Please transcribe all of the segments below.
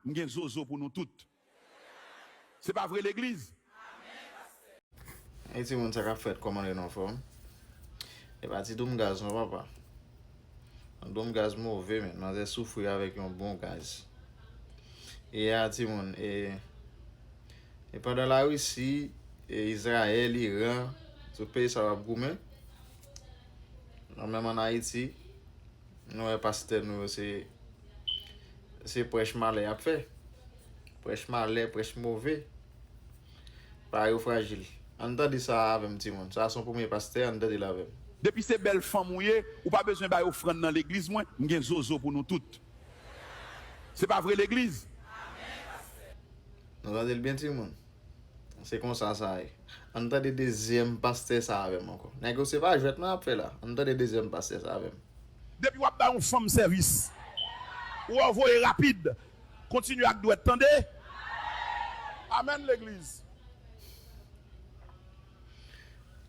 M gen zozo pou nou tout. Se pa vre legliz. Hey timoun sa kap fèt kòman nou anfòm epa ti doum gaz non papa yon doum gaz move men manzè soufri avèk yon bon gaz eya timoun e e pandan la risi e izrayèl iran tout peyi sa yo ap goumen nan menm an ayiti Nou wè pastè nou yo se se prèch malè yap fè prèch malè prèch move pa yo frajil ann tande sa avèm ti moun sa son premye pastè ann tande l avèm. Depi se bèl fanm ou ye ou pa bezwen bay ofrann nan legliz mwen m gen zozo pou nou tout se pa vre legliz. Nou tande l byen ti moun. Se konsa sa ye. Ann tande dezyèm pastè sa avèm ankò. Nèg yo se pa jwèt non yap fè la. Ann tande dezyèm pastè sa avèm. Depi wap bay yon fanm sèvis ou wè ou voye rapid kontinye ak dwèt tande Amen legliz.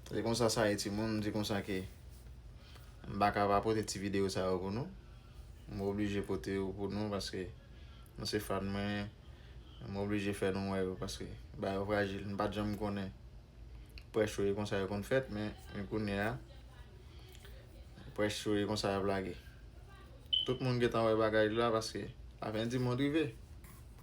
Se konsa sa ye timoun m di konsa ke m paka pa pote ti video sa yo pou nou. M oblije pote yo pou nou paske. Nou se fan mwen M oblije fè nou wè yo paske bagay yo frajil M pat janm konnen prèch yo e konsa yo konn fèt men kounyea prèch yo e konsa yap lage Tout moun gentan wè bagay la paske lafen di mond rive.